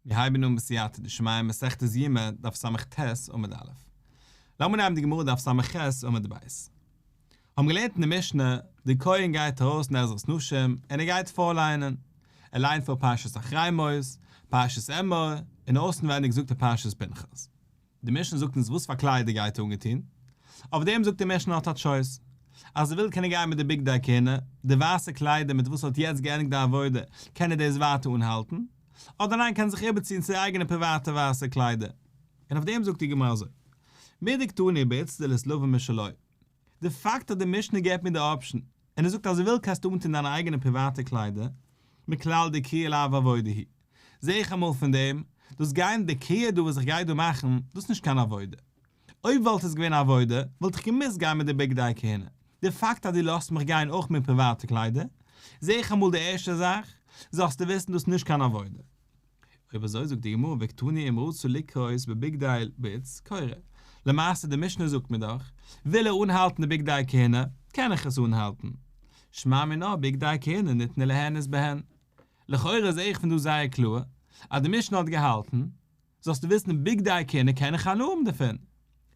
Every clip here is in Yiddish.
מיר הייבן אן בסייעתא דשמיא מסכת יומא דף סט עמוד א'. לאמיר נייען די גמרא דף סמ ח עמוד ב'. האבן געלערנט אין די משנה, דער כהן גייט ארויס אין עזרת נשים און ער גייט פארליינען. ער ליינט פאר פרשת אחרי מות, פרשת אמור, און אויסנווענדיג זאגט ער פרשת פנחס. די משנה זאגט אונז וואס פאר קלייד ער גייט אנגעטון, אויף דעם זאגט די משנה האט א טשויס, אז ער וויל קען ער גיין מיט די בגדי הכהונה, די ווייסע קליידער מיט וואס ער האט יעצט געענדיגט די עבודה, קען ער דאס ווייטער אנהאלטן, אדער ניין קען ער זיך איבערציען צו אייגענע פריוואטע ווייסע קליידער, און אויף דעם זאגט די גמרא אזוי, מידי קטני ביצ ד לסלובע משלו. די פאקט אז די משנה געבט מיר די אפשן און ער זאגט אז וויל קענסטו אנטון דיינע אייגענע פריוואטע קליידער מכלל דקרי אל אב עבודה היא, זע איך אמאל פון דעם, דאס גיין דקרי דא וואס איך גיי דא מאכן, דאס איז נישט קיין עבודה. אויב וואלט עס געווען עבודה, וואלט איך געמוזט גיין מיט די בגדי כהונה. די פאקט אז דו לאזט מיך גיין אויך מיט פריוואטע קליידער, זע איך אמאל די ערשטע זאך, זאלסטו וויסן דאס איז נישט קיין עבודה. אויב אזוי זאגט די גמרא וקטני אם רצו לקרות בבגדי בית כהונה, למעשה די משנה זאגט מיר דאך, וויל ער אנהאלטן די בגדי כהונה, קען איך עס אנהאלטן. שמע מינה בגדי כהונה ניתנה להענות בהן. לכאורה זעה איך פון דא זייער קלאר, אז די משנה האט געהאלטן, זאלסטו וויסן בגדי כהונה קען איך הנאה האבן דערפון.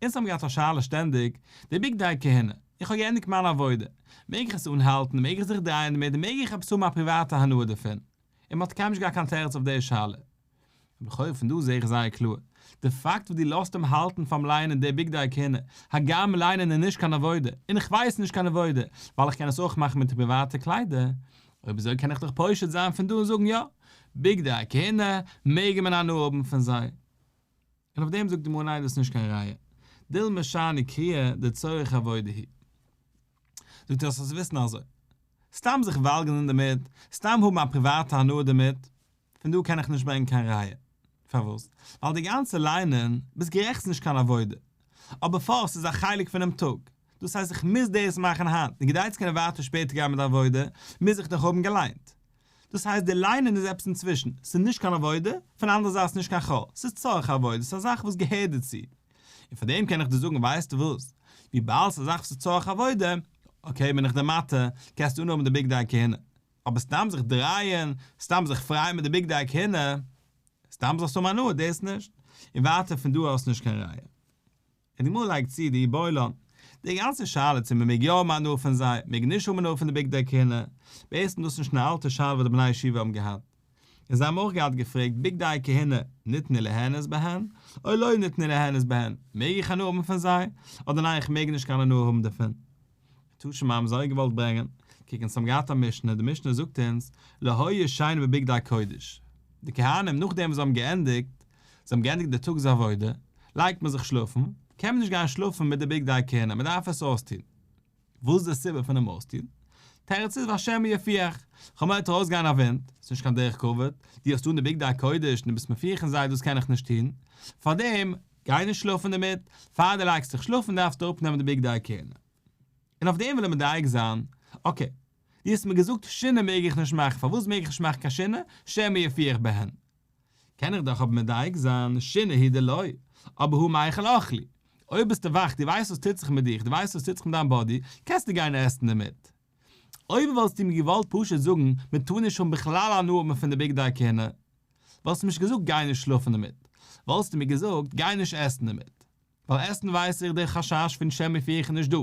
אונז האבן געהאט א שאלה שטענדיג, די בגדי כהונה, איך האב געענדיגט מיין עבודה, מעג איך עס אנהאלטן, מעג איך זיך דרייען דערמיט, מעג איך עפעס האבן א פריוואטע הנאה דערפון? און מ'האט קיינמאל נישט געהאט קיין תירוץ אויף די שאלה. לכאורה פון דא זע איך זייער קלאר, די פאקט וואס דו לאזט אים האלטן פאר'ן ליינען די בגדי הכהונה, הגם ליינען איז נישט קיין עבודה, און איך ווייס נישט קיין עבודה, ווייל איך קען עס אויך מאכן מיט די פריוואטע קליידער, אויב אזוי קען איך דאך פושט זיין פון דא און זאגן יא, בגדי הכהונה מעגן מען הנאה האבן פון זיי. און אויף דעם זאגט די גמרא ניין דאס איז נישט קיין ראיה דיל' משנה קריאה דצורך עבודה היא. זאגט ער אז ס'איז וויסן אזוי. סתם זיך וואלגערן דערמיט, סתם האבן א פריוואטע הנאה דערמיט, פון דא קען איך נישט ברענגען קיין ראיה. פארוואס? ווייל די גאנצע ליינען, ביסט גערעכט ס'איז נישט קיין עבודה, אבער פאר ס'איז א חלק פונעם טאג, דאס הייסט איך מוז דאס מאכן היינט, און כדי צו קענען ווייטער שפעטער גיין מיט די עבודה, מוז איך דאך האבן געליינט. דאס הייסט די ליינען איז עפעס אינצווישן, ס'איז נישט קיין עבודה, פון די אנדערע זייט ס'איז נישט קיין חו, ס'איז צורך עבודה, ס'איז א זאך וואס געהערט דערצו. און פאר דעם קען איך דיר זאגן ווייסטו וואס, וויבאלד ס'איז א זאך וואס איז צורך עבודה, אקעי בין איך דער מטעה, קענסטו אנהאבן די בגדי הכהונה, אבער סתם זיך דרייען, סתם זיך פרייען מיט די בגדי הכהונה, סתם זאלסטו האבן הנאה, דאס נישט. און ווייטער פון דא אויס נישט קיין ראיה. און די גמרא לייגט צו די בולען. די גאנצע שאלה צו מען מעג יא האבן הנאה פון זיי, מעג נישט האבן הנאה פון די בגדי הכהונה, בעצם דאס נישט קיין אלטע שאלה וואס די בני ישיבה האבן געהאט. און זיי האבן אויך געהאט געפרעגט בגדי כהונה ניתנו ליהנות בהן או לא ניתנו ליהנות בהן, מעג איך הנאה האבן פון זיי, אדער ניין איך מעג נישט קיין הנאה האבן דערפון. תשמ א, מ'האט זיי אויך געוואלט ברענגען, קוק אונז האבן געהאט א משנה, די משנה זאגט אונז, לא היה שיין בבגדי קודש, די כהנים נאכדעם וואס זיי האבן געענדיגט, זיי האבן געענדיגט די טאגס עבודה, לייגט מען זיך שלאפן, קען מען נישט גיין שלאפן מיט די בגדי כהונה, מען דארף עס אויסטון. וואס איז די סיבה פונעם אויסטון? תירוץ איז והשם יפיח, חמאטע אויסגיין א ווינט, ס'איז נישט קיין דרך כבוד, דו האסט אן די בגדי קודש און דו ביסט מפיח אין זיי, דאס קען איך נישט טון, פארדעם, גיי נישט שלאפן דערמיט, פאר דו לייגסט דיך שלאפן דארפסטו אראפנעמען די בגדי הכהונה. און אויף דעם וויל ער מדייק זיין, אקעי, דו האסט מיר געזאגט שינה מעג איך נישט מאכן, פארוואס מעג איך נישט מאכן קיין שינה, שמא יפי איך בהן? קען איך דאך אבער מדייק זיין, שינה היא דלאי, אבער הוא מאכל אוכלי. אויב ביסטו וואך, דו ווייסט וואס טוט זיך מיט דיך, דו ווייסט וואס טוט זיך מיט דיין באדי, קענסטו גיין עסן דערמיט. אויב וואלסטו מיר געוואלט פשוט זאגן מען טאר נישט האבן בכלל הנאה האבן פון די בגדי הכהונה, וואלסטו נישט געזאגט גיי נישט שלאפן דערמיט, וואלסטו מיר געזאגט גיי נישט עסן דערמיט, ווייל עסן ווייס איך דער חשש פון שם מפיר איך נישט דא,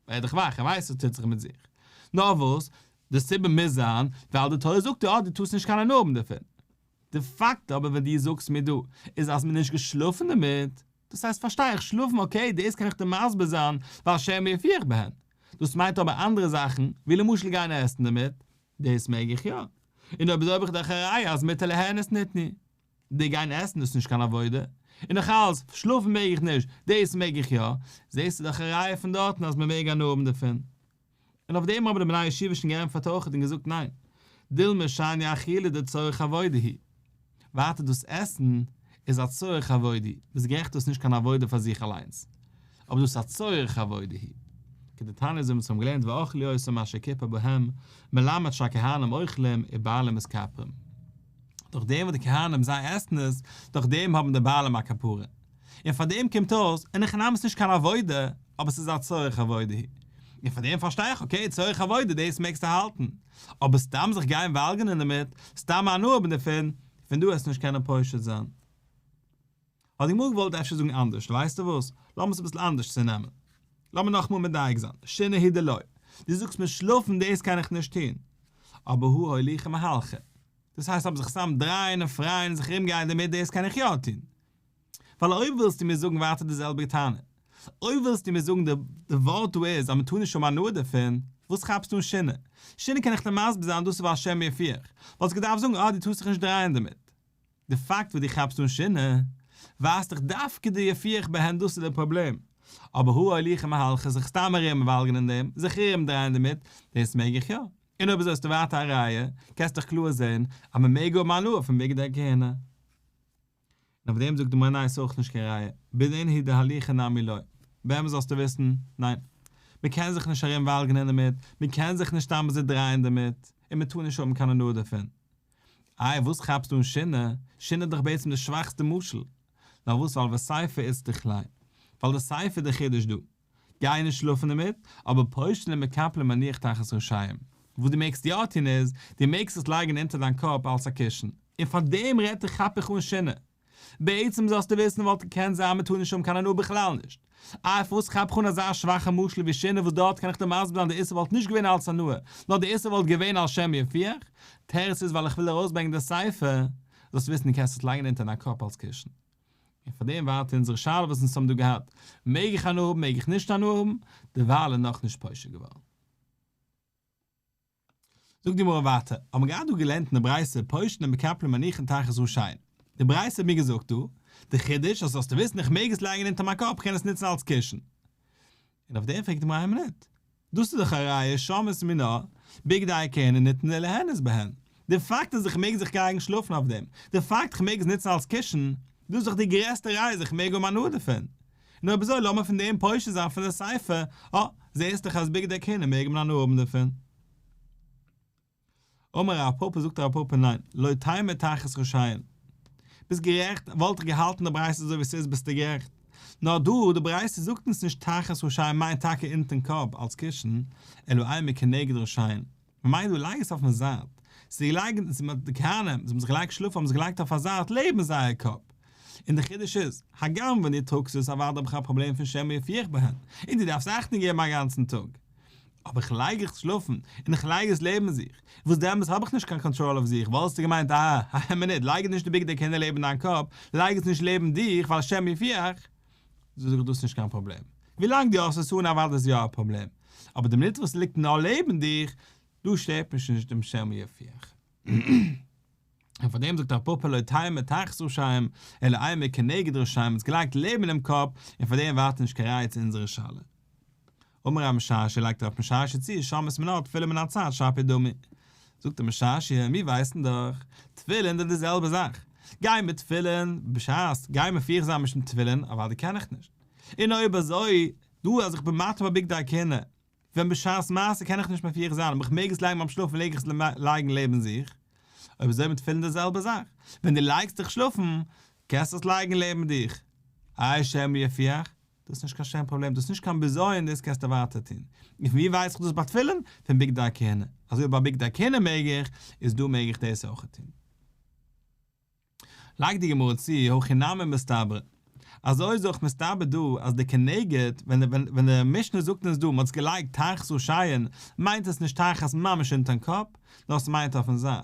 ווער דיך וואך, ער ווייסט וואס טוט זיך מיט זיך. נאר וואס, די סיבה מוז זיין ווייל די תורה זאגט דיר אז דו טארסט נישט קיין הנאה האבן דערפון. די פאקט אבער וואס דו זאגסט מיר דא איז אז מ'נישט געשלאפן דערמיט, דאס הייסט פארשטיי איך שלאפן אקעי דאס קען איך דיר מסביר זיין ווייל השם מי יפיח בהן, דאס מיינט אבער אנדערע זאכן ווי למשל גיין עסן דערמיט, דאס מעג איך יא, און אויב איז אויב איך דאך א ראיה אז מיתה להנות ניתני, די גיין עסן דאס איז נישט קיין עבודה, און נאך אלעס שלאפן מעג איך נישט, דאס מעג איך יא, זעסטו דאך א ראיה פון דארטן אז מ'מעג הנאה האבן דערפון. און אויף דעם האבן די בני ישיבה שוין געענטפערט אויכעט און געזאגט ניין, דילמא שעניא אכילה דצורך עבודה היא, ווייטער דאס עסן איז א צורך עבודה, ביסט גערעכט דאס איז נישט קיין עבודה פאר זיך אליינס, אבער דאס איז א צורך עבודה היא, כדתניא זיי האבן צוזאם געלערנט ואכלו עשו מה שכיפה בהם, מלמד שהכהנים אוכלים ובעלים עס כפרין, דורך דעם וואס די כהנים זיי עסן עס, דורך דעם האבן די בעלים א כפרה. און פאר דעם קומט אויס, און הכנעה איז נישט קיין עבודה, אבער ס'איז א צורך עבודה היא. און פאר דעם פארשטיי איך, אקעי, צורך עבודה, דאס מעגסטו האלטן. אבער סתם זיך גיין וואלגערן דערמיט, סתם הנאה האבן דערפון, פון דא העסטו נישט קענען פושט זיין. האט די גמרא געוואלט אפשר זאגן אנדערש, ווייסטו וואס, לאמיר עס אביסל אנדערש צונעמען. לאמיר נאכאמאל מדייק זיין, שינה היא דלא. דו זאגסט מיר שלאפן, דאס קען איך נישט טון. אבער הוא הוליכי מהלכי. דאס הייסט אבער זיך סתם דרייען און פרייען און זיך ארומגייען דערמיט, דאס קען איך יא טון. ווייל אויב ווילסטו מיר זאגן ווייטער די זעלביגע טענה, אויב ווילסטו מיר זאגן די ווארט דא איז אז מען טאר נישט האבן הנאה דערפון, וואס כאפסטו אין שינה? שינה קען איך דיר מסביר זיין דאס איז ווייל השם יפיך, וואלסטו געדארפט זאגן אה דו טארסט זיך נישט דרייען דערמיט. די פאקט וואס דו כאפסט אן שינה, ווייזט דאך דווקא די יפיך בהן דאס איז די פראבלעם. אבער האר הליכה מהלכה זיך סתם ארום וואלגערן אין דעם, זיך ארום דרייען דערמיט, דאס מעג איך יא. און אויב אזוי האסטו ווייטער א ראיה, קענסט דאך קלאר זען אז מען מעג האבן הנאה פון בגדי הכהונה. און אויף דעם זאגט די מנין ס'איז אויך נישט קיין ראיה, בדין הי' דהליכא נמי ליה, באמת זאלסטו וויסן, ניין. מ'קען זיך נישט ארום וואלגענען דערמיט, מ'קען זיך נישט סתם אזוי דרייען דערמיט, און מ'טאר נישט האבן קיין הנאה דערפון. איי וואס כאפסטו אין שינה? שינה איז דאך בעצם די שוואכסטע משל. נאר וואס ווייל וסייפא איצטרכ ליה. ווייל די סייפא איז די חידוש דא. גיי נישט שלאפן דערמיט, אבער פושט און מקפל מניח תחת ראשם. וואס דו מעגסט יא טון איז, דו מעגסט עס לייגן אונטער דיין קאפ אלס א קישן. און פאר דעם רעדט איך כאפ איך אן שינה. בעצם זאלסטו וויסן וואלט געקענט זיין מ'טאר נישט האבן קיין הנאה בכלל נישט. אויף וואס כאפ איך אן אזא שוואכע משל ווי שינה וואס דארט קען איך דיר מסביר זיין די איסור וואלט נישט געווען אלס הנאה, נאר די איסור וואלט געווען על שם יפיח. תירוץ איז ווייל איך וויל ארויסברענגן די ספר, זאלסטו וויסן דו קענסט עס לייגן אונטער דיין קאפ אלס קישן. און פאר דעם ווארט אונזערע שאלה וואס אונז האבן דא געהאט, מעג איך הנאה האבן מעג איך נישט הנאה האבן, דערווייל איז נאך נישט פושר געווארן. זאגט די גמרא ווייטער, האט מען געהאט דא געלערנט אין די ברייתא, פושטין ומקפלין מניחין תחת ראשיהן, די ברייתא האט מיר געזאגט דא, די חידוש, אז זאלסטו וויסן איך מעג עס לייגן אונטער מיין קאפ, איך קען עס נוצן אלס קישן. און אויף דעם פרעגט מרים ניט. דאָס איז דאָך אַ ראיה שאמת מינה, בגדי כהונה ניתנה ליהנות בהן. דער פאַקט אַז איך מעג זיך גייגן שלאָפן אויף דעם, דער פאַקט איך מעג עס ניצן אַלס קישן, דאָס איז דאָך די גרעסטע ראיה אַז איך מעג האָבן הנאה דערפון. נו אויב אַזוי לאָמיר פון דעם פושט זיין פון דער ספר, אָ, זעסט דאָך אַז בגדי כהונה מעג מען הנאה האָבן דערפון. אמר רב פפא זאגט רב פפא ניין לא תימא תחת רשעים ביסט גערעכט וואלט איך געהאלטן די ברייתא אזוי ווי ס'איז ביסטו גערעכט נאר דא די ברייתא זאגט אונז נישט תחת רשעים מיינט טאקע אונטען קאפ אלס קישן אלא איימער כנגד רשעים מ'מיינט דא לייג עס אויפן זייט ס'איז געלייגט די כהנים וואס האבן זיך געלייגט שלאפן האבן זיך געלייגט אויף א זייט לעבן זייער קאפ און די חידוש איז הגם ווען דו טראגסט עס אוודאי האב איך א פראבלעם פון שמא יפיח בהן און דו דארפסט אכטונג געבן א גאנצן טאג אבער איך לייג איך שלאפן און איך לייג עס לעבן זיך, וואס דעמאלטס האב איך נישט קיין קאנטראל אויף זיך, וואלסטו געמיינט אה א מינוט לייג נישט די בגדי כהונה לעבן דיין קאפ, לייג עס נישט לעבן דיך ווייל השם יפיעך, זאג איך דאס נישט קיין פראבלעם, ווילאנג דו האסט עס אן אוודאי איז יא א פראבלעם, אבער די מינוט וואס עס ליגט נאר לעבן דיך, דא שטערט מיך נישט דעם השם יפיעך. און פארדעם זאגט רב פאפא לא תהא מתחת רשעים אלא איה מכנגד רשעים, עס געלייגט לעבן אינעם קאפ און פארדעם ווארט נישט קיין רייץ אונזערע שאלה. אמר א משרשי לייגט אראפ משרשי צו שמות מן האר תפילין מן הצד שפי דמי. זאגט דער משרשי מיר ווייסן דאך תפילין זענען די זעלבע זאך, גיי מיט תפילין בשעת גיי מפיח זיין משום תפילין אוואדי די קען איך נישט, און אויב אזוי דא אז איך בין מטה בבגדי הכהונה ווען בשעת מעשה קען איך נישט מפיח זיין אבער איך מעג עס לייגן ביים שלאפן מעג איך עס לייגן לעבן זיך, אויב אזוי מיט תפילין די זעלבע זאך, ווען די לייגסט דיך שלאפן קענסט עס לייגן לעבן דיך, אי שמא יפיח, דאס איז נישט קיין שטערן פראבלעם, דאס איז נישט קיין בזיון, דאס קענסטו ווייטער טון. און פון ווי ווייס איך דאס ביי תפילין? פון בגדי הכהונה. אז אויב ביי בגדי הכהונה מעג איך, איז דא מעג איך דאס אויך טון. לייגט די גמרא צו, הכי נמי מסתברא. אזוי איז אויך מסתבר דא אז די כנגד, ווען די משנה זאגט אונז דא מ'האט'ס געלייגט תחת ראשיהן, מיינט עס נישט תחת ממש אונטערן קאפ, נאר עס מיינט אויפ'ן זייט.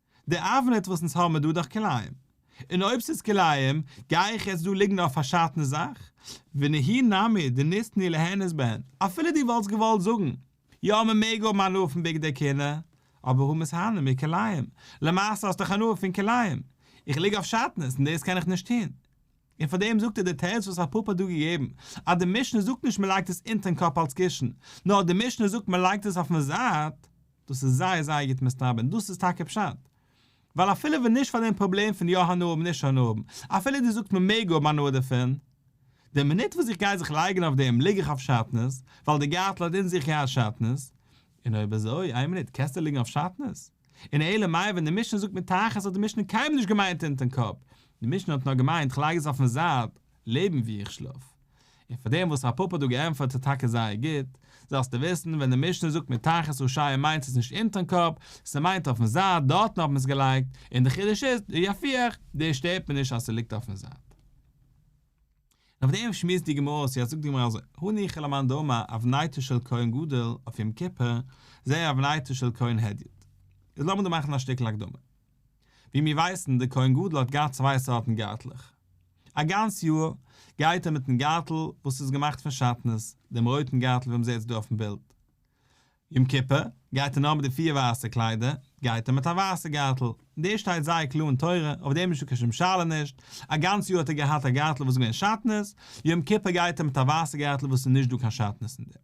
די אבענעט וואס אונז האבן איז דא דאך כלאים, און אויב ס'איז כלאים, גיי איך יעצט דא ליגן אויף א פארשאטנע זאך? ונהי נמי דניתני להנות בהן, אפילו דו וואלטסט געוואלט זאגן, יא מ'מעג האבן הנאה פון בגדי כלה, אבער הוא מסהנה מכלאים, למעשה האסט דאך הנאה פון כלאים, איך ליג אויף שאטנעס און דאס קען איך נישט טון. און פאר דעם זאגט ער די תירוץ וואס הרב פאפא האט דא געגעבן, אז די משנה זאגט נישט מ'לייגט עס אונטערן קאפ אלס קישן, נאר די משנה זאגט מ'לייגט עס אויפן זייט, דאס איז זייער זייער גוט מסתבר און דאס איז טאקע פשט. ווייל אפילו ווען נישט פאר דעם פראבלעם פון יא הנאה האבן נישט הנאה האבן, אפילו דו זאגסט מען מעג האבן הנאה דערפון, די מינוט וואס איך גיי זיך לייגן אויף דעם ליג איך אויף שעטנז, ווייל די גארטל האט אין זיך יא א שעטנז, און אויב אזוי איין מינוט קענסטו ליגן אויף שעטנז? און אלא מאי ווען די משנה זאגט מתחת האט די משנה קיינמאל נישט געמיינט אונטערן קאפ, די משנה האט נאר געמיינט כ'לייג עס אויפן זייט לעבן ווי איך שלאף. און פאר דעם וואס רב פפא האט דא געענטפערט איז טאקע זייער גוט, זאלסטו וויסן ווען די משנה זאגט מתחת ראשיה מיינט עס נישט אונטערן קאפ, ס'מיינט אויפן זייט, דארטן האט מען עס געלייגט, און די חידוש איז, די יפיח, דאס שטערט מיר נישט אז ס'ליגט אויפן זייט. און אויף דעם שמועסט די גמרא אויס, יעצט זאגט די גמרא אזוי, הניחא למאן דאמר אבנייתו של כהן גדול אויף יום כיפור, זעה אבנייתו של כהן הדיוט. איז לאמיר דא מאכן א שטיקל הקדמה. ווי מיר ווייסן, דער כהן גדול האט געהאט צוויי סארטן גארטלעך. א גאנץ יאר גייט ער מיט'ן גארטל וואס איז געמאכט פון שעטנז, דעם רויטן גארטל ווי מ'זעט עס דא אויפ'ן בילד. יום כיפור גייט ער נאר מיט די פיר ווייסע קליידער, גייט ער מיט א ווייסע גארטל. דאס שטייט זייער קלאר אין תורה, אויף דעם איז שוין קיין שום שאלה נישט. א גאנץ יאר האט ער געהאט א גארטל וואס איז געווען שעטנז, יום כיפור גייט ער מיט א ווייסע גארטל וואס איז נישט דא קיין שעטנז אין דעם.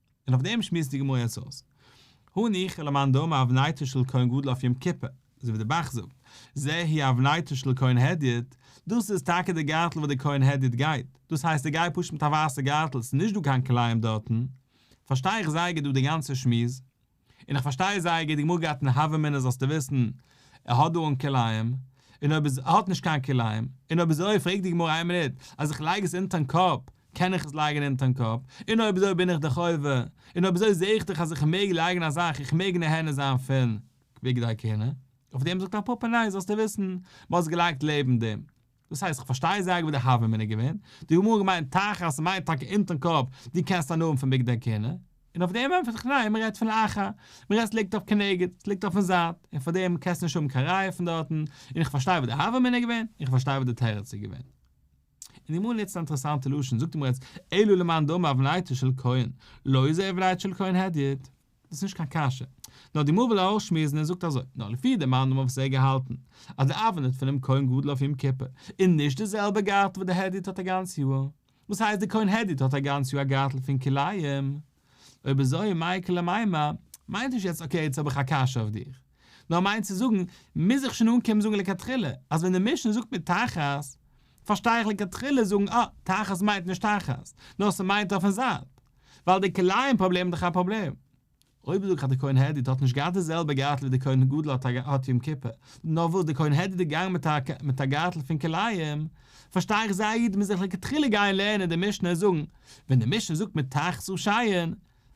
און אויף דעם שמועסט די גמרא יעצט אויס. הא ניחא למאן דאמר אבנייתו של כהן גדול אויף יום כיפור, אזוי ווי די בח זאגט, זה היא אבנייתו של כהן הדיוט, דאס איז טאקע די גארטל וואס די כהן הדיוט גייט, דאס הייסט ער גייט פשוט מיט א ווייסע גארטל, ס'איז נישט דא קיין כלאים דארטן, פארשטיי איך זייער גוט דא די גאנצע שמועס. און איך פארשטיי זייער גוט די גמרא גייט אין הוה אמינא זאלסטו וויסן ער האט דא אן כלאיים און אויב איז ער האט נישט קיין כלאיים און אויב איז אזוי פרעגט די גמרא איין מינוט אז איך לייג עס אונטערן קאפ קען איך עס לייגן אונטערן קאפ און אויב אזוי בין איך די חובה און אויב אזוי זע איך דאך אז איך מעג לייגן א זאך איך מעג נהנה זיין פון בגדי כהונה אויף דעם זאגט א פאפא ניין זאלסטו וויסן מען האט עס געלייגט לעבן דעם. דאס הייסט, כ'פארשטיי זייער גוט די הוה אמינא געווען, די גמרא האט געמיינט תחת ס'מיינט טאקע אונטערן קאפ, דו קענסט אנהויבן פון בגדי כהונה, און אויף דעם ענטפערט איך ניין, מ'רעדט פון לאחר, מ'רעדט ס'ליגט אויף כנגד, ס'ליגט אויפן זייט, און פאר דעם קענסטו נישט האבן קיין ראיה פון דארטן, און איך פארשטיי וואס די הוה אמינא איז געווען, און איך פארשטיי וואס די תירוץ איז געווען. און די גמרא נוצט אן אינטערעסאנטע לשון, זאגט די גמרא יעצט, אלא למאן דאמר עוולייתו של כהן, לא איז עוולייתו של כהן הדיוט, דאס איז נישט קיין קשיא. נאר די מאל וויל ער אויך שמועסן און זאגט אזוי, נאר לפי די מאן דאמר וואס ער האט געהאלטן אז די אווען איז פונעם כהן גדול אויף יום כיפור איז נישט די זעלבע גארטל וואס די העדית האט א גאנץ יאר, וואס הייסט די כהן העדית האט א גאנץ יאר א גארטל פון כלאים? אויב אזוי מאי קלא מימא? מיינט נישט יעצט אקעי יעצט האב איך א קשיא אויף דיך, נאר מיינט צו זאגן מוז איך שוין אנקומען זאגן לכתחילה אז ווען די משנה זאגט מיר תחת פארשטיי איך לכתחילה זאגן אה תחת מיינט נישט תחת נאר ס'מיינט אויפן זייט, ווייל די כלאים פראבלעם איז דאך א פראבלעם. אויב זאג איך אז די כהן העדיד האט נישט געהאט די זעלבע גארטל ווי די כהן גדול האט א האט יום כיפור, נאר וואס די כהן העדיד איז געגאנגען מיט א מיט א גארטל פון כלאים, פארשטיי איך זיי א איד מוז זיך לכתחילה גיין לערנען די משנה און זאגן, ווען די משנה זאגט מיט תחת ראשיהן,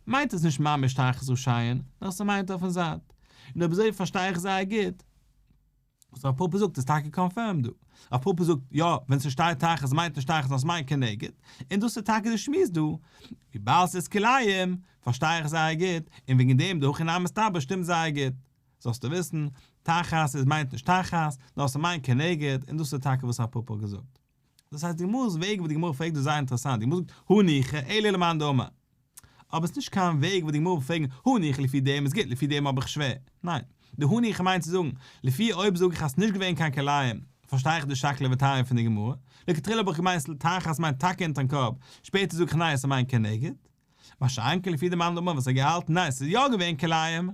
מיינט עס נישט ממש תחת ראשיהן, נאר ס'מיינט אויפן זייט. און אויב אזוי פארשטיי איך זייער גוט. וואס רב פפא זאגט איז טאקע קאנפירמד דא. רב פפא זאגט, יא, ווען ס'שטייט תחת מיינט נישט תחת נאר ס'מיינט כנגד, און דאס איז טאקע די שמועס דא. וויבאלד ס'איז כלאיים, פארשטיי איך זייער גוט, און וועגן דעם די הכי נמי מסתבר שטימט זייער גוט. זאלסטו וויסן, תחת איז מיינט נישט תחת, נאר ס'מיינט כנגד, און דאס איז טאקע וואס רב פפא האט געזאגט. דאס הייסט די גמרא'ס וועג וואס די גמרא פרעגט איז זייער אינטערעסאנט, די גמרא זאגט הני כ אלא למאן דאמר, אבער עס איז נישט קיין וועג וואס די גמרא וועט פרעגן הני כ לפי דעם איז גוט לפי דעם האב איך שווער, ניין, די הני כ מיינט צו זאגן, לפי אויב זאג איך אז עס איז נישט געווען קיין כלאים, פארשטיי איך די שקלא וטריא פון די גמרא, לכתחילה האב איך געמיינט ס'ל תח אז ס'מיינט טאקע אונטערן קאפ, שפעטער זאג איך ניין ס'מיינט כנגד, מה שאין כן לפי די מאן דאמר וואס האט געהאלטן ניין ס'איז יא געווען כלאים,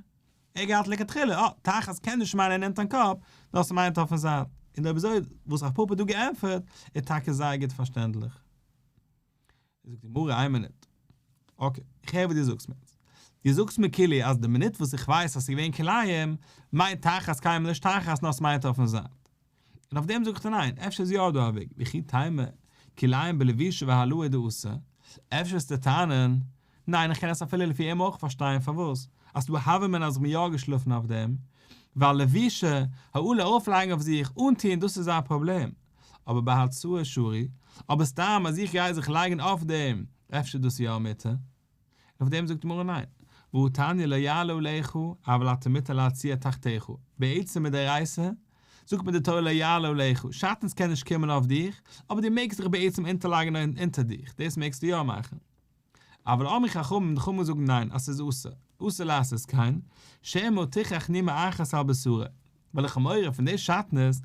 ער געהאט לכתחילה אה, תחת קען נישט מיינען נעמט אין קאפ, דאס מיינט אויפן זייט, און די אביזוי וואס רב פפא האט דא געענטפערט איז טאקע זייער גוט פארשטענדליך. זאגט די גמרא איין מינוט, אקעי, איך הער וואס דו זאגסט מיר, דו זאגסט מיר כאילו אז די מינוט וואס איך ווייס אז ס'איז געווען כלאים, מיינט תחת קיימען נישט תחת נאר ס'מיינט אויפן זייט, און אויף דעם זאג איך דיר ניין, אפשר איז יא דא א וועג, וכי תימא, כי לעיין בלבישה והלאה איז דא אסור, אפשר וועסטו טענה'ן, ניין איך קען עס אפילו לפי אים אויך פארשטיין פארוואס, אז ס'דא האבי מן אז איך בין יא געשלאפן אויף דעם, ווייל לבישה, העלה ארויפלייגן אויף זיך, אנטוהן דאס איז א פראבלעם, אבער בהצאה שרי, אבער סתם אז איך גיי זיך לייגן אויף דעם, אפשר איז דאס יא א מיתה. און אויף דעם זאגט די גמרא ניין, והוא תניא לא יעלה עליך אבל אתה מותר להציע תחתיך, בעצם מיט דאורייתא זאגט מען די תורה לא יעלה עליך, שאטנס קען נישט קומען אויף דיך, אבער די מעגסט דיך בעצם אונטערלייגן אונטער דיך, דאס מעגסטו יא מאכן. אבל אמרי חכמים, די חכמים זאגן ניין, אז ס'איז אסור, אסור לעשות כן, שמא תוכח נימה אחת על בשרה, וועלכע מורא פון די שטנות,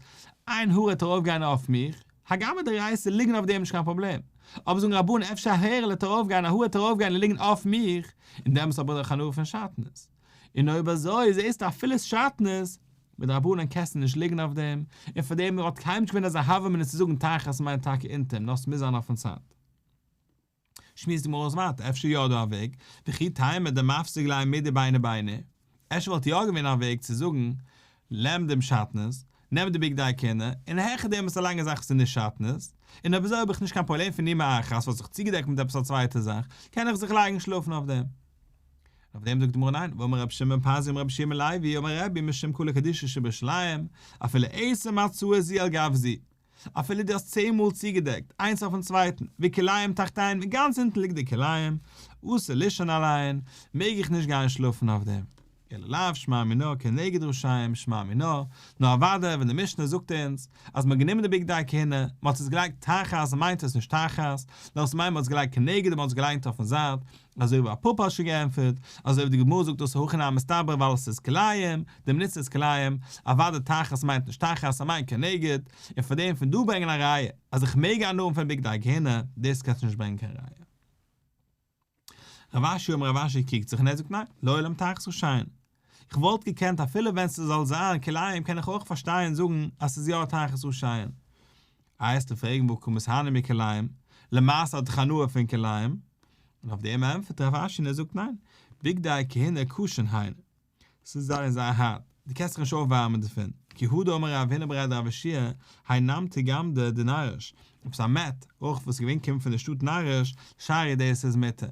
עין הרע טאר אויפגיין אויף מיך, הגם וועט די רייסער ליגן אויף דעם נישט קיין פראבלעם, אבער זאגן רבון אפשר א הערה'לע טאר אויפגיין א הרע טאר אויפגיין און ליגן אויף מיך, און דעמאלס האב איך דאך הנאה פון שטנות, און אויב אזוי זעסטו אפילו שטנות, מיט רבנן קענסטו נישט ליגן אויף דעם, און פארדעם האט קיינמאל נישט געווען אזא הווא מינוס צו זאגן תחת מיינט טאקע אונטער, נאר ס'מוז זיין אויפן צד. שמועסט די גמרא אויס ווייטער, אפשר יא דא א וועג, וכי תימא דמפסיק ליה מידי ביינא ביינא, אפשר וואלט יא געווען א וועג צו זאגן, למדום שעטנז, נעם די בגדי כהונה, און העכער דעם איז א לאנגע זאך וואס איז נישט שעטנז, און אויב אזוי האב איך נישט קיין פראבלעם פון ימי אחת וואס האט זיך צוגעדעקט מיט עפעס א צווייטע זאך, קען איך זיך לייגן שלאפן אויף דעם. אויף דעם זאגט די גמרא ניין, ואמר רבי שמעון פזי אמר רבי שמעון לוי אמר רבי משום כולא קדישא שבירושלים, אפילו עשר מצות זי על גב זי, אפילו דו האסט צען מאל צוגעדעקט איינס אויפן צווייטן, ווי כלאיים תחתיין ווי גאנץ אונטן ליגט די כלאיים, עשה לישון עליהן, מעג איך נישט גיין שלאפן אויף דעם. אלא לאו שמע מינה כנגד רשעים שמע מינה, נאר אוודאי ווען די משנה זאגט אונז אז מ'האט גענומען די בגדי כהונה, מ'האט עס געלייגט תחת מיינט עס נישט תחת, נאר עס מיינט מ'האט עס געלייגט כנגד און מ'האט עס געליינט אויפן זייט, אזוי ווי א פאפא האט שוין געענטפערט, אזוי ווי די גמרא זאגט דאס הכי נמי מסתבר ווייל עס איז כלאיים, די מליצה איז כלאיים, אוואדע תחת מיינט נישט תחת, ער מיינט כנגד, און פון דעם פון דא ברענגען א ראיה אז איך מעג א נארן פון בגדי הגהנה, דאס קענסטו נישט ברענגען קיין ראיה. רב אשי אמר רב אשי קוקט זיך און ער זאגט ניין, לעולם תחת איז שיין. איך וואלט געקענט אפילו ווען ס'זאל זיין כלאיים קען איך אויך פארשטיין און זאגן אז ס'איז יא תחת איז שיין. איי העסטו פרעגן וואו קומט עס הנאה מכלאיים, למעשה האט איך הנאה פון כלאיים? און אויף דעם ענטפערט רב אשי און ער זאגט ניין, בגדי הכהונה קושין הן. ס'איז זייער זייער הארט, דו קענסט זיך נישט אויפווארעמען דערפון, כי הודו אמר רב הנה ברעד רב אשי' האי נמתיק גמדע די נאריש, עפעס א מת, אויך וואס איז געווען קומט פון די שטאט נאריש, שערי דעיס איז מותר.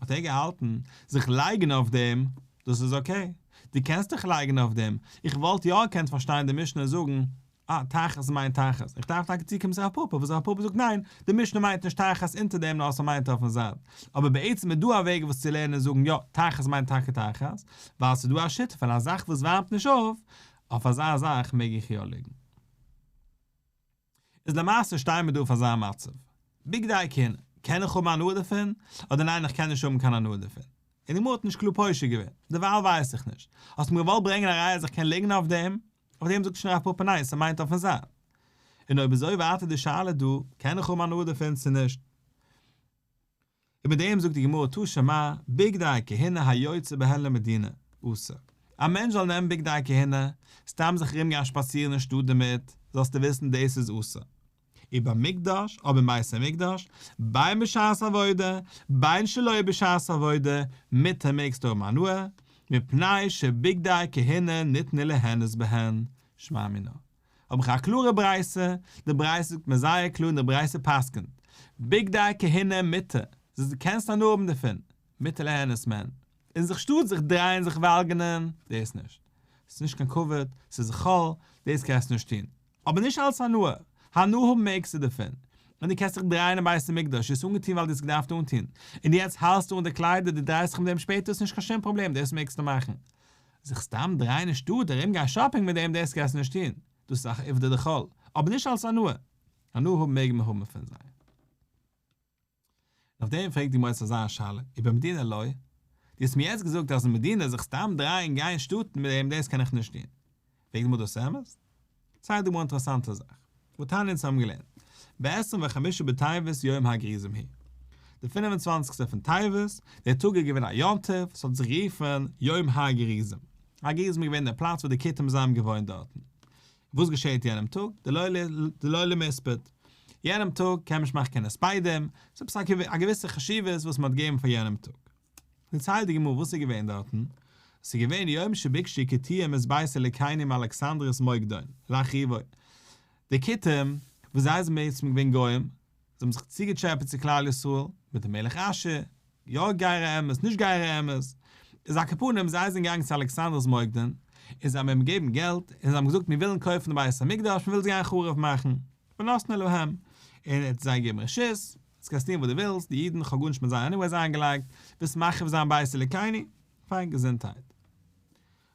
האט ער געהאלטן, זיך לייגן אויף דעם, דאס איז אקעי, דו קענסט דיך לייגן אויף דעם, איך וואלט יא געקענט פארשטיין די משנה זאגן אה, תחת מיינט תחת. איך דארף טאקע צוקומען צו הרב פאפא, וואס הרב פאפא זאגט ניין, די משנה מיינט נישט תחת אונטער דעם נאר ס'מיינט אויפן זייט. אבער בעצם איז דא א וועג וואס צו לערנען און זאגן יא, תחת מיינט טאקע תחת, ווייל ס'איז דא א שיטה פון א זאך וואס ווארעמט נישט אויף, אויף אזא זאך מעג איך יא ליגן. איז למעשה שטייען מיר דא אויף אזא מצב. בגדי כהונה, קען איך האבן הנאה דערפון? אדער ניין איך קען נישט האבן קיין הנאה דערפון? און די גמרא האט נישט קלאר פושר געווען. דערווייל ווייס איך נישט. האסט מיר געוואלט ברענגען א ראיה אז איך קען ליגן אויף דעם? אויף דעם זאגט שוין הרב פאפא ניין ס'מיינט אויפן זיין. און אויב אזוי ווארט די שאלה דא, קען איך האבן הנאה דערפון צו נישט? און מיט דעם זאגט די גמרא תא שמא בגדי כהונה היוצא בהן למדינה אסור. א מענטש זאל נעמען בגדי כהונה, סתם זיך ארומגיין שפאצירן אין שטאט דערמיט, זאלסטו וויסן דאס איז אסור. און ביים מקדש, אויב אין בית המקדש, ביי בשעת עבודה, ביין שלא בשעת עבודה, מיתה מעגסטו האבן הנאה, מפני שבגדי כהונה ניתנו ליהנות בהן, שמע מינה. האב איך א קלארע ברייתא, די ברייתא זאגט מיר זייער קלאר און די ברייתא פסק'נט, בגדי כהונה מיתה, זאל זי קענסט הנאה האבן דערפון, מיתה ליהנות מהן, און זיך שטאט זיך דרייען זיך וואלגענען, דאס נישט. ס'איז נישט קיין כבוד, ס'איז זכול, דאס קענסטו נישט טון. אבער נישט אלס הנאה, הנאה האבן מעגסטו דערפון, און דו קענסט זיך דרייען אין בית המקדש, דו האסט אנגעטון ווייל דו האסט געדארפט אנטון, און יעצט האלסטו אן די קליידער, דו דרייסט זיך מיט דעם שפעטער איז נישט קיין שום פראבלעם, דאס מעגסטו מאכן. זיך סתם דרייען אין שטאט, ארום גיין שאפינג מיט דעם, דאס קענסטו נישט טון, דאס איז אך עובדא דכל, אבער נישט אלס הנאה, הנאה האבן מעג מען האבן פון זיי. און אויף דעם פרעגט די מועצת אזא שאלה איבער מדינה לוי? דו האסט מיר יעצט געזאגט אז אין מדינה זיך סתם דרייען גיין שטאטן מיט דעם דאס קען איך נישט טון. וועגן וואס דאס אמת? צייג דא א אינטערעסאנטע זאך וואס טאני און איך האבן געלערנט בעשרים וחמישה בטבת יום הגריזים הי' די פֿינף און צוואַנציק פון טבת, דער טאג איז געווען א יום טוב, ס'האט זיך גערופן יום הגריזים, הגריזים איז געווען דער פלאץ וואו די כותים זיי האבן געוואוינט דארטן, וואס געשעהט יענעם טאג? דלא למספד. יענעם טאג קען מען נישט מאכן קיין הספדים, ס'איז עפעס א געוויסע חשיבות וואס מ'האט געגעבן פאר יענעם טאג. דערציילט די גמרא וואס איז געווען דארטן, עס איז געווען יום שביקשי כתים את בית אלקינו מאלכסנדרית מוקדון לאחריבו, די כתים וואס זיי זענען בעצם געווען גוים, זיי האבן זיך צוגעטשעפעט צו כלל ישראל מיט די מלך אשור, יא גייערע אמת, נישט גייערע אמת, איז א קאפארנעם, זיי זענען געגאנגען צו אלכסנדר'ס מוקדן, און זיי האבן אים געגעבן געלט, און זיי האבן געזאגט מיר ווילן קויפן די בית המקדש, מ'וויל עס גיין חרוב מאכן, ונתנה להם, און ער האט זיי געגעבן רשות, אז קענסט טון וואס דו ווילסט, די אידן, כ'האב גארנישט מיט זיי עניוועיס איינגעלייגט, ווילסט מחריב זיין בית אלוקינו, פיין געזונטהייט.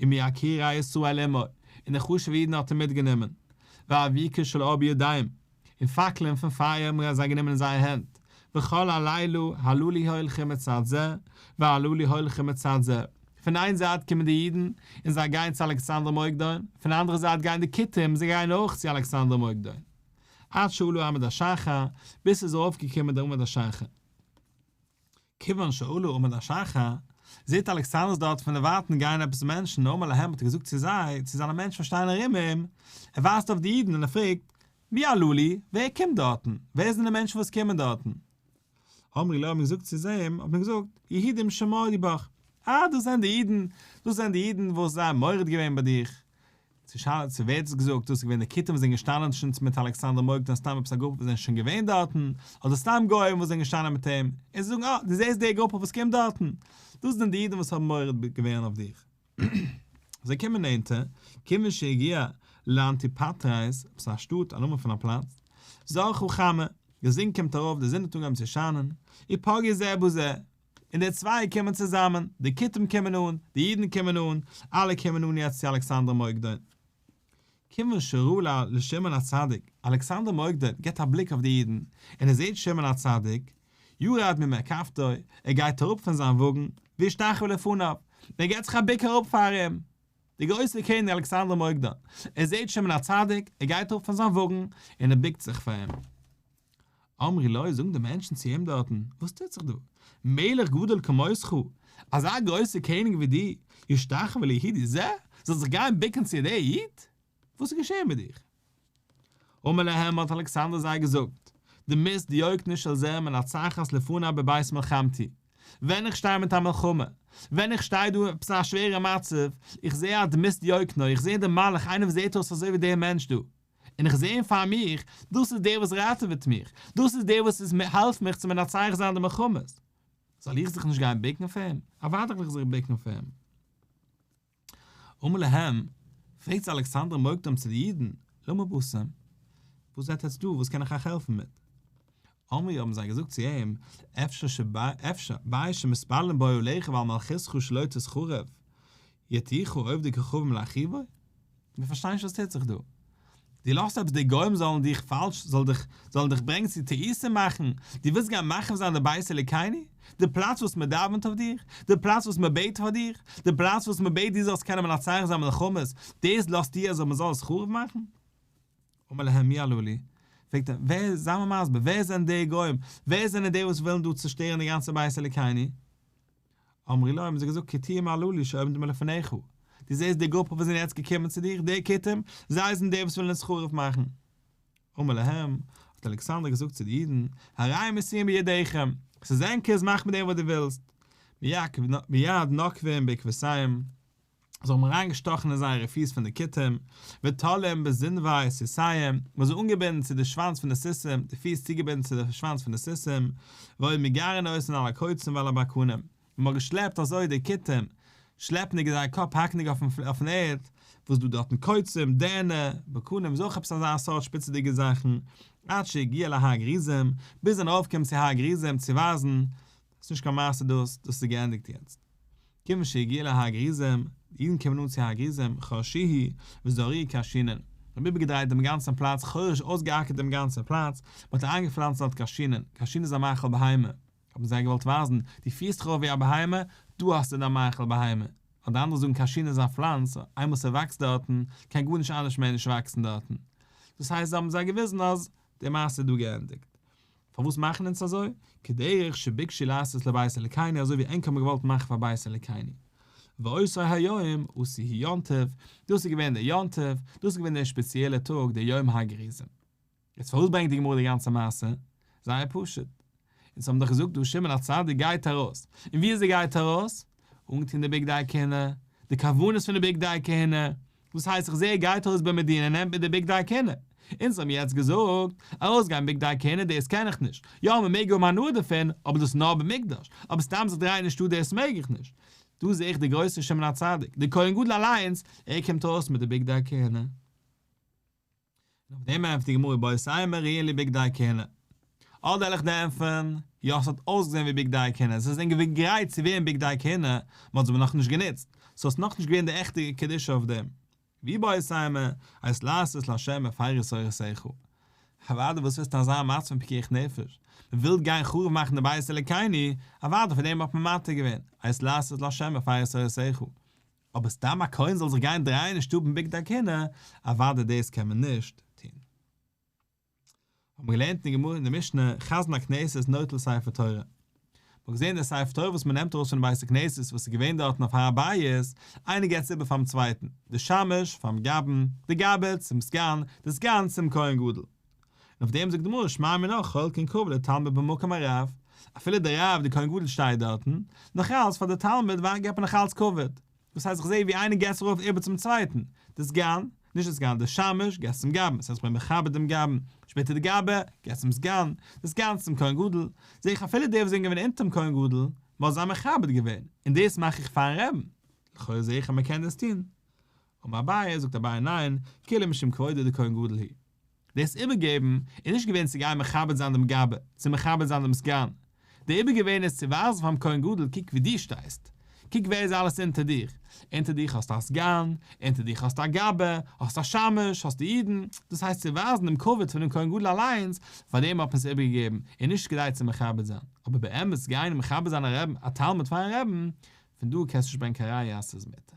און מיקירי ישראל עמו, און די חשוב'ע אידן האט ער מיטגענומען, ואביקה של אור בידיים, און פאקלען פון פייער האבן זיי גענומען אין זייער הענט, וכל הלילה הללו לי הולכים מצד זה, והללו לי הולכים מצד זה, פון איין זייט קומען די אידן, און זיי גייען צו אלכסנדר מוקדון, פון אנדערע זייט גייען די כותים, און זיי גייען אויך צו אלכסנדר מוקדון. עד שעלו עמוד השחר, ביז ס'איז ארויפגעקומען דער עמוד השחר. כּיוון שעלו עמוד השחר, זעט אלכּסנדר דאָרט פֿון דער ווײַטן גײען עפּעס מענטשן, נאָמער להם האָט ער געזאָגט צו זײ, צו זײַנע מענטשן וואָס שטייען אַרום אים, ער ווײַזט אויף די ייִדן און ער פֿרעגט, מי עלו לי? ווער קומט דאָרטן? ווער זענען די מענטשן וואָס קומען דאָרטן? אמרו לו האָט מען געזאָגט צו אים, האָט מען געזאָגט, יהודים שמעו דיבך, אַ, דאָס זענען די ייִדן, דאָס זענען די ייִדן וואָס זיי האָבן מורד געווען בײַ דיך, צו שאלה צו ווער האט עס געזאגט, דאס איז געווען די כיתים וואס זענען געשטאנען צו נץ מיט אלכסנדר מוקדון סתם עפעס א גרופע וואס זענען שוין געווען דארטן, אדער סתם גוים וואס זענען געשטאנען מיט אים, און זיי זאגן אה דו זעסט די גרופע וואס קומט דארטן, דאס זענען די אידן וואס האבן מורד געווען אויף דיך. זיי קומען נענטער, כיוון שהגיע לאנטיפאטרייס, עפעס א שטאט, א נאמען פון א פלאץ, זרחו חמה, די זון קומט ארויף, די זון האט אנגעהויבן צו שיינען, איפגע זה בזה, און די צוויי קומען צוזאמען, די כותים קומען אן, די אידן קומען אן, אלע קומען אן יעצט צו אלכסנדר מוקדון. כיוון שראה ל לשמעון הצדיק, אלכסנדר מוקדון גיבט א בליק אויף די אידן, און ער זעט שמעון הצדיק, ירד ממרכבתו, ער גייט אראפ פון זיין וואגן, וישתחוה לפניו, און ער געבט זיך א בוק אראפ פאר אים. דער גרויסער קעניג אלכסנדר מוקדון, ער זעט שמעון הצדיק, ער גייט אראפ פון זיין וואגן, און ער בוקט זיך פאר אים. אמרי לו, זאגן די מענטשן צו אים דארטן, וואס טוט זיך דא? מלך גדול כמותך, אזא גרויסער קעניג ווי דו, ישתחוה ליהודי זה, זאל זיך גיין בוקן צו דער איד? וואס איז געשען מיט דיך? אמר להם, האט אלכסנדר זיי געזאגט, דו מיסט דיוקנו של זה מנצחת לפניו בבית מלחמתי, ווען איך שטיי מיט א מלחמה, ווען איך שטיי דא עפעס א שווערע מצב, איך זע א דמות דיוקנו, איך זע דעם מלאך, איינער וואס זעט אויס אזוי ווי דער מענטש דא, און איך זעה אים פאר מיך, דאס איז דער וואס ראטעוועט מיך, דאס איז דער וואס איז העלפט מיך צו מנצח זיין די מלחמות, זאל איך זיך נישט גיין ביקן פאר אים? אוודאי וועל איך זיך ביקן פאר אים. אמר להם, פרעגט זיי אלכסנדר מוקדם צו די אידן, למה באתם? וואס זעט עטץ דא, וואס קען איך אייך העלפן מיט? אמרו האבן זיי געזאגט צו אים, אפשר, אפשר, באי שמתפללים באו אליך ועל מלכותך שלא תחרב, יתיכו אויב די כוכבים לאחיו, מיר פארשטיין נישט וואס טוט זיך דא. דו לאזט עפעס די גוים זאלן דיך פאלש, זאלן דיך, זאלן דיך ברענגן צו טעותים מאכן, דו ווילסט גיין מחריב זיין די בית אלוקינו, די פלאץ וואס מען דאווענט אויף דיר, די פלאץ וואס מען בעט פאר דיר, די פלאץ וואס מען בעט דו זאלסט קענען מנצח זיין מלחמות, דאס לאזטו אזוי מען זאל עס חרוב מאכן? אמר להם מי אלו לי, פרעגט ער, ווער, זיי מיר מסביר, ווער זענען די גוים, ווער זענען די וואס ווילן דא צושטערן די גאנצע בית אלוקינו? אמרי להם האבן זיי געזאגט כתים הללו לי שעומדים מלפניך, דו זעסט די גרופע וואס זענען יעצט געקומען צו דיר, די כתים, זיי זענען די וואס ווילן אונז חרוב מאכן. אמר להם, האט אלכסנדר געזאגט צו די אידן, הרי מסרים בידיכם, עס איז ענקערס מאך מיט דעם וואס דו ווילסט, מיד נוקבים בעקבותיהם, זיי האבן אריינגעשטאכן אין זייערע פיס פון די כתים, ותולים בזנבי סוסיהם, מען האט זיי אנגעבינדן צו די שוואנץ פון די סוסים, די פיס צוגעבינדן צו די שוואנץ פון די סוסים, והיו מגרין אויסן על הקוצים ועל הבקרנים, און מען האט געשלעפט אזוי די כתים, שלעפנדיג זייער קאפ האקנדיג אויפן ערד, וואס דא דארטן קוצים, דערנע, בקרנים איז אויך עפעס אזא סארט שפיצעדיגע זאכן, עד שהגיע להר גריזים, ביז זיי זענען ארויפגעקומען צו הר גריזים צו ווייזן ס'איז נישט קיין מעשה דאס, דאס איז געענדיגט יעצט. כיוון שהגיע להגריזם, די אידן קומען אן צו הגריזם, חרשיהי וזרעי קאשינען. מ'האט איבערגעדרייט דעם גאנצן פלאץ, חורש אויסגעאקערט דעם גאנצן פלאץ, מ'האט איינגעפלאנצט דארט קאשינען, קאשין איז א מאכל בהמה, האבן זיי געוואלט ווייזן, דו פירסט דיך אויף ווי א בהמה, דא האסטו דיין מאכל בהמה, אדער אנדערע זאגן קאשין איז א פלאנץ, איינמאל ס'וואקסט דארטן, קען גארנישט אנדערש מער נישט וואקסן דארטן. דאס הייסט זיי האבן זיי געוויזן אז די מעשה איז דא געענדיגט. פארוואס מאכן אונז אזוי? כדרך שביקשו לעשות לבית אלקינו אזוי ווי ענק האבן געוואלט מאכן פאר בית אלקינו. ועושי היום עשו היא יום טוב, דאס איז געווען דער יום טוב, דאס איז געווען דער שפעציעלער טאג דער יום הגריזים. יעצט פארוואס ברענגט די גמרא די גאנצע מעשה? זייער פשוט. אונז האבן דאך געזאגט דא שמעון הצדיק גייט ארויס. און ווי איז ער גייט ארויס? אנגעטון די בגדי כהונה, די כוונות פון די בגדי כהונה, וואס הייסט איך זעה ער גייט אויס ביים מדין ער נעמט מיט די בגדי הכהונה? אונז האבן יעצט געזאגט, ארויסגיין בגדי הכהונה דאס קען איך נישט, יא מען מעג האבן הנאה דערפון אבער דאס נאר במקדש, אבער סתם זיך דרייען אין שטאט דאס מעג איך נישט, דא זעה איך די גרויסע שמעון הצדיק, די כהן גדול אליינס, ער קומט אויס מיט די בגדי הכהונה. און אויף דעם ענטפערט די גמרא בייסאי מרעין לי בגדי כהונה. אדער העל איך דענפערן, יא ס'האט אויסגעזען ווי בגדי כהונה, ס'איז זען געווען גרייט צו ווערן בגדי כהונה, מ'האט עס אבער נאכנישט גענוצט, סאו ס'איז נאכנישט געווען די עכטע קדושה אויף דעם. ווי בייסאי מ הייסט לעשות להשם מפאריס אורחותיך. אוואדע וואס וועסטו אזא מצב פון פיקוח נפש, מ'וויל גיין חרוב מאכן די בית אלוקינו, אוואדע פאר דעם האט מען מתיר געווען, הייסט לעשות להשם מפאריס אורחותיך. אבער סתם א כהן זאל זיך גיין דרייען אין שטוב אין בגדי הכהונה, אוודאי דאס קען מען נישט טון. האט מען געלערנט אין גמרא אין די משנה, חזן הכנסת איז נוטל ספר תורה. מען האט געזען דער ספר תורה וואס מען נעמט ארויס פונעם בית הכנסת וואס איז געווען דארטן אויף הר הבית, איינער געבט עס איבער פאר'ן צווייטן, דער שמש פאר'ן גבא'ן, דער גבא'ס צום סגן, דער סגן צום כהן גדול. און אויף דעם זאגט די גמרא שמע מינה כל כן קרוב לתלמיד במקום הרב, אפילו דער רב דער כהן גדול שטייט דארטן, נאך אלץ פאר די תלמיד ווארט געבט מען נאך אלץ כבוד, דאס הייסט איך זע ווי איינער געסט זיך ארויף איבער צום צווייטן, די סגן, נישט די סגן, די שמש, געסט צום גבאי, דאס הייסט איך בין מכבד דעם גבאי, שפעטער די גבאי, געסט צום סגן, די סגן צום כהן גדול, זע איך אפילו די וואס זענען געווען אונטערן כהן גדול, מ'האט זיי מכבד געווען, און דאס מאך איך פארן רעבן, לכאורה זע איך אז מ'קען דאס טון. אמר אביי, זאגט אביי ניין, כאילו משום כבודו דכהן גדול הוא. דאס איבערגעבן איז נישט געווען צו גיין מכבד זיין דעם גאבע, צו מכבד זיין דעם סגן, די איבערגעבען איז צו ווייזן פאר'ן כהן גדול קוק ווי דו שטייסט, קוק ווער איז אלעס אונטער דיר, אונטער דיך האסטו א סגן, אונטער דיך האסטו א גאבע, האסטו א שמש, האסטו אידן, דאס הייסט צו ווייזן דעם כבוד פון דעם כהן גדול אליינס, פארדעם האט מען עס איבערגעגעבן, און נישט כדי צו מכבד זיין, אבער באמת גיין און מכבד זיין א רעבן, א תלמיד פאר'ן רעבן, פון דא קענסטו נישט ברענגן קיין ראיה אז ס'איז מותר.